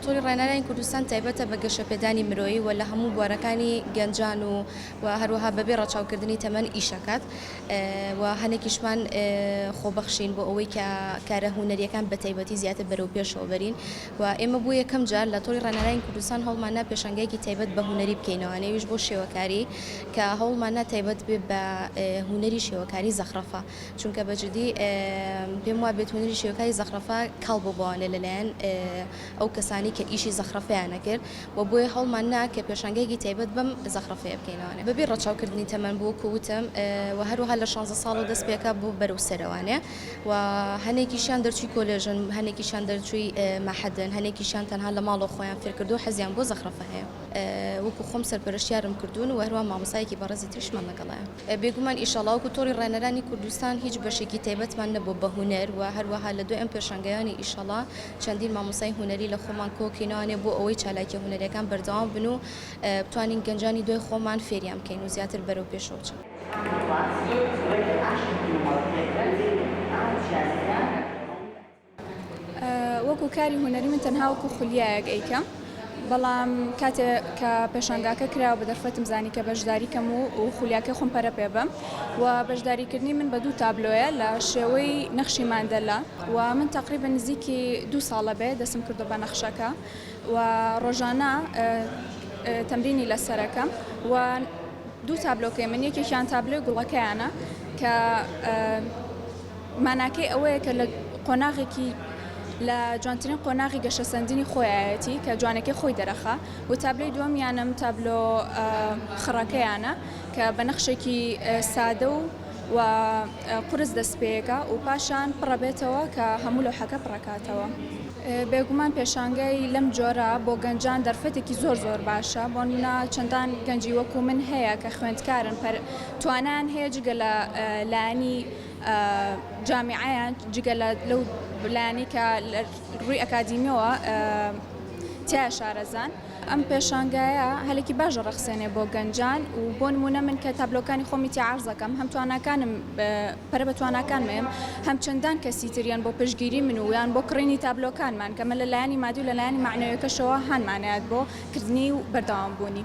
تۆڕی ڕێنراین کوردستان تایبەتە بە گەشەپێدانی مرۆیی و لە هەموو بوارەکانی گەنجان و و هەروەها بەبێ ڕەچاوکردنی تەمەن ئیشەکات و هەنێکیشمان خۆبەخشین بۆ ئەوەی کە کارە هونەریەکان بەتایبەتی زیاتر بەرەو پێشەوە بەرین و ئێمە بۆ یەکەم جار لە تۆڕی ڕەنالاین کوردستان هەوڵماننا پێشانگایەکی تایبەت بە هونەری بکەینەوە نەویش بۆ شێوەکاری کە هەوڵماننا تایبەت بێ بە هونەری شێوەکاری زەخرەفە چونکە بە جدی پێم وابێت هونەری شێوەکاری زەخرەفە کاڵ بۆ بۆانێ لەلایەن ئەو کەسانی کە ئیشی زەخرەفەیانە کرد و بۆیە هەوڵماننا کە پێشانگایەکی تایبەت بەم زەخرەفەیە بکەینەوە بەبێ ڕەچاوکردنی تەمەن بۆ وەکو وتم و هەروەها لە شانزە ساڵەوە دەست پێکا بۆ بەرەو سەرەوانێ. و هەنێکیشیان دەرچووی کۆلێژن، هەنێکیشیان دەرچووی مەحەدن، هەنێکیشیان تەنها لە ماڵەوە خۆیان فێر کردووە و حەزیان بۆ زەخرەفە هەیە. وەکو خۆم سەرپەرشتیارم کردوون و هەروەها مامۆستایەکی بەڕێزی تریشمان لەگەڵایە. بێگومان ئیشەڵا وەکو تۆڕی ڕێنەرانی کوردستان هیچ بەشێکی تایبەتمان نەبووە بە هونەر و هەروەها لە دوای ئەم پێشانگایانە ئیشەڵا چەندین مامۆستای هونەری لە خۆمان کۆ کەینەوانێ بۆ ئەوەی چالاکیە هونەریەکان بەردەوام بن و بتوانین گەنجانی دوای خۆمان فێریان بکەین و زیاتر بەرەو پێشەوە چن. وەکو کاری هونەری من تەنها وەکو خولیایەک ئەیکەم بەڵام کاتێ کە پێشانگاکە کرا بە دەرفەتم زانی کە بەشداری کەم و و خولیاکە خۆم پەرە پێ بم و بەشداریکردنی من بە دوو تابلۆیە لە شێوەی نەخشی ماندەلا و من تەقری بە نزیکی دوو ساڵە بێ دەسم کردو بە نەخشەکە و ڕۆژانە تەمرینی لەسەرەکەم و دوو تابلۆکەی من یەکێکیان تابلۆی گوڵەکەیانە کە ماناکەی ئەوەیە کە لە قۆناغێکی لە جوانترین قۆناغی گەشەسەندنی خۆیایەتی کە جوانەکەی خۆی دەرەخا و تابلۆی دووەمیانم تابلۆ خڕەکەیانە کە بە نەخشێکی سادە و و قورس دەست پێەکە و پاشان پڕەبێتەوە کە هەموو لەو حەکە پڕکاتەوە. بێگومان پێشانگای لەم جۆرە بۆ گەنجان دەرفەتێکی زۆر زۆر باشە بۆنمونە چەندان گەنجی وەکو من هەیە کە خوێندکارن پەر توانایان هەیە جگە لە لانی جامیعەیان جگە لە لەو لانی کە ڕووی ئەکادیمیەوە تیا شارەزان ئەم پێشانگایە هەلێکی باش ڕەخسێنێ بۆ گەنجان و بۆنمونە من کە تابلۆکانی خۆمی تیاعرزەکەم هەم تواناکانم پەرە بە تواناکان مەیەم هەم چەندان کەسی تر یان بۆ پشتگیری من و یان بۆ کڕینی تابلۆکانمان کەمە لە لایەنی مادی و لە لایەنی مەعنەویەکەشەوە هانمانەیات بۆ کردنی و بەردەوام بوونی.